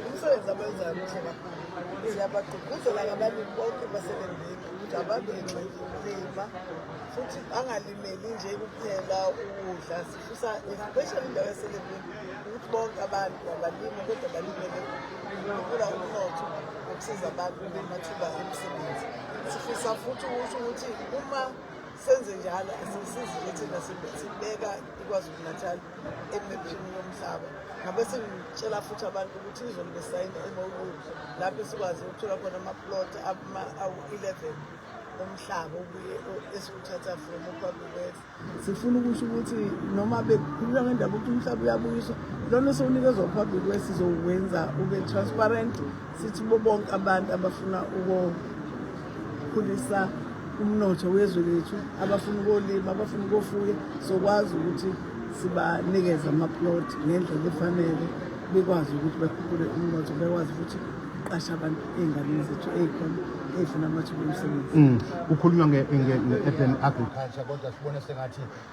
umsebenzi abenzayo muhle kakhulu siyabagqugquzela ngabalimi bonke baselembeni ukuthi abantu enxekulima futhi angalimeli nje kuphela ukudla sifisa especially indawo yaselembeni ukuthi bonke abantu abalimi kodwa balimele ukula umnotho ukusiza abantu namathuba emisebenzi sifisa futhi ukuthi uma senze njalo asisizi ukuthi nasibeka KwaZulu-Natal emepini yomhlaba ngabe sengitshela futhi abantu ukuthi izolo besayina e-MOU lapho esikwazi ukuthola khona amaplot awu-11 umhlaba obuye esiwuthatha from ukwabubes sifuna ukusho ukuthi noma bekhulula ngendaba ukuthi umhlaba uyabuyiswa lona sowunikezwa upublic west sizowuwenza ube transparent Sithi kubo bonke abantu abafuna ukukhulisa umnotho wezwe lethu abafuna ukolima abafuna ukofuya sokwazi ukuthi sibanikeze amaplot ngendlela efanele bekwazi ukuthi bakhuphule umnotho bekwazi ukuthi uqashe abantu ey'nganeni zethu ey'khona ey'funa amathuba omsebenzi mm. kukhulunywa nge-urban agriculture kodwa sibone sengathi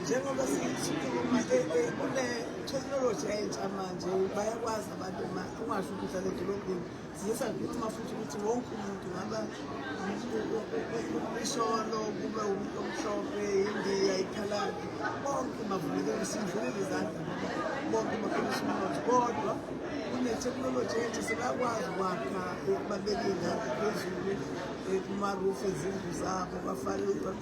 njengoba sikhuluma kule technology entsha manje bayakwazi abantu uma ungasho ukuthi uhlala edolobheni siye sakhuluma futhi ukuthi wonke umuntu ngaba isholo kube umuntu omhlophe indiya ikhaladi bonke bavulekele sindlulele izandla bonke bakhulisa umnotho kodwa kunetheknoloji entsha sebakwazi ukwakha babeke ingane phezulu kumarufu ezindlu zabo bafake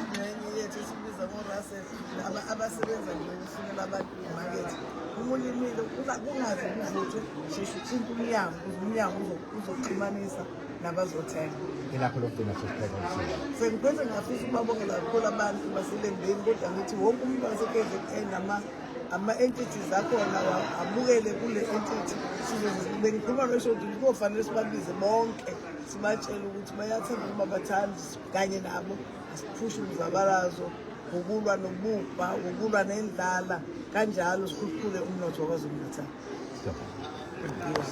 ingxenye yethu esibiza ngo-russel abasebenza nje ukufunela abantu imakethe uma ulimile kungaze kuvuthwe sheshe uthinte umnyango kuze umnyango uzoxhumanisa nabazothenga ilapho lokugcina sengiphethe ngafisa ukubabongela kakhulu abantu baselembeni kodwa ngithi wonke umuntu wase-kzn nama ama-entities akhona abukele kule entity bengikhuluma losho ukuthi kuzofanele sibabize bonke sibatshele ukuthi bayathanda ukuba bathandi kanye nabo asiphushe umzabalazo ngokulwa nobubha ngokulwa nendlala kanjalo sikhuphule umnotho wakwazulu natal